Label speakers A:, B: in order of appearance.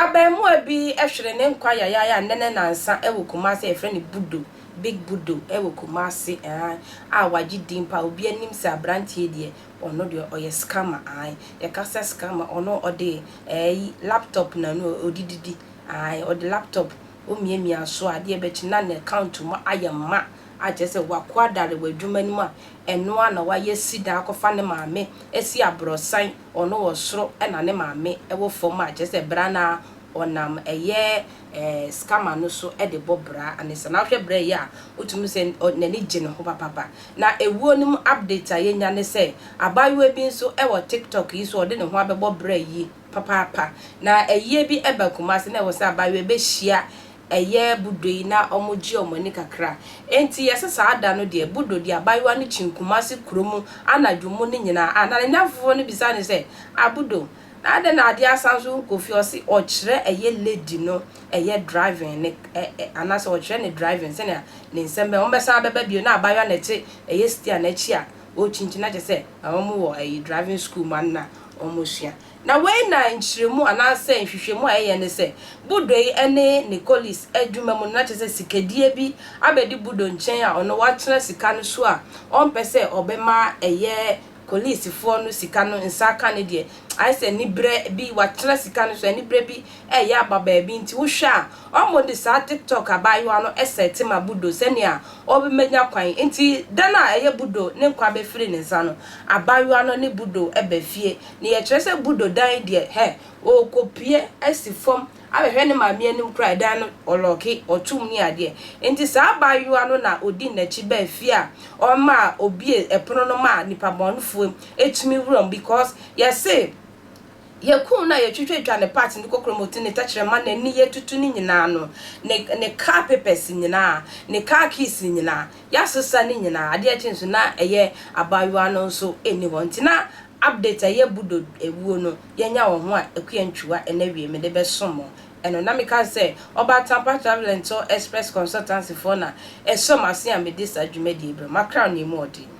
A: Abaamua bi hwere ne nkwa yayaaya a nnɛ ne nnansa wɔ Kumasi a yɛfrɛ no Budo, Big Budo, wɔ Kumasi aane, a wagye din paa, obi anim sɛ aberanteɛ yi deɛ ɔno deɛ ɔyɛ scammer aane, yɛka sɛ scammer ɔno ɔde ɛɛyi laptop na ɛno ɔde didi. Ae ɔde laptop omiamia so a deɛ bɛkye na ne account mu ayɛ ma a kyerɛ sɛ wako adare wɔ adwuma no mu a ɛno ara na wayɛ sida akɔfa ne maame asi abrɔsan ɔno wɔ soro na ne maame wɔ fam a kyerɛ sɛ bra no ara ɔnam ɛyɛ eh scammer no so de bɔ bra no saa na wohwɛ bra yi a wotumi hu sɛ n'ani gye ne ho papapa na ewuo no mu update a yɛnya ne sɛ abaayewa bi nso wɔ tiktok yi so a ɔde ne ho abɛbɔ bra yi papaapa na ɛyeɛ bi ɛba Kumasi na ɛwɔ sɛ abaayewa bɛ hyia ɛyɛ Budo yi na ɔmo gye ɔmo ani kakra enti yɛ sɛ saa da no deɛ Budo de abaayewa no kyin Kumasi kuro mu anadwo mu no nyinaa a na ne nnamfofoɔ no bisa no sɛ ah Budo na adɛn na adeɛ asan nso wo kɔ fie ɔse ɔkyerɛ ɛyɛ lady no ɛyɛ driving ne ɛ ɛ anaasɛ ɔkyerɛ ne driving sɛnea ne nsɛm bɛyɛ ɔmo bɛsan abɛba bio na abaayewa na ɛte ɛyɛ steer no akyi a Wɔkyinkyini na kyerɛ sɛ na wɔn wɔ ɛyi driving school ma no na wɔn sua. Na wei na nkyerɛmu anaa sɛ nhwehwɛmu a yɛyɛ ne sɛ Budo yi ne Nicolis adwuma mu no na kyerɛ sɛ sikadie bi abɛdi Budo nkyɛn a ɔno watena sika no so a ɔmpɛ sɛ ɔbɛma ɛyɛ Colisfoɔ no sika no nsa aka ne deɛ ayɛ sɛ anibrɛ bi watena sika no so anibrɛ bi reyɛ aba baabi nti wohwɛ a ɔmo de saa TikTok abaayewa no sɛte ma Budo sɛnea ɔbɛnya kwan nti da no a ɛyɛ Budo ne nkwa bɛfiri ne nsa no abaayewa no ne Budo ba fie na yɛkyerɛ sɛ Budo dan deɛ hɛ ɔrekɔpue asi fam abɛhwɛ ne maame anim koraa ɛdan no ɔlɔɔke ɔtom ne adeɛ nti saa abaayewa no na ɔdi n'akyi baa fie a ɔma ɔbue pono no ma nipabɔnefoɔ tumi wura mu because yɛse Yɛn kum no a yɛtwitwa twa ne parts ne kokromoti ne tɛkyerɛma ne ne yɛtutu ne nyinaa no ne ne car papers nyinaa ne car keys nyinaa yɛasesa ne nyinaa adeɛ akyi nso na ɛyɛ abaayewa no nso nni hɔ nti na update a ɛyɛ budo awuo no yɛanya wɔ ho a Akua Ntwiwa ɛnɛ wie mede bɛso mo ɛno na meka no sɛ Ɔbaa Tampa Travel and Tour Express Consultancy foɔ na ɛsɔ m'ase a mede saa dwumadie brɛ mo Accra Ɔnɛmuɔden.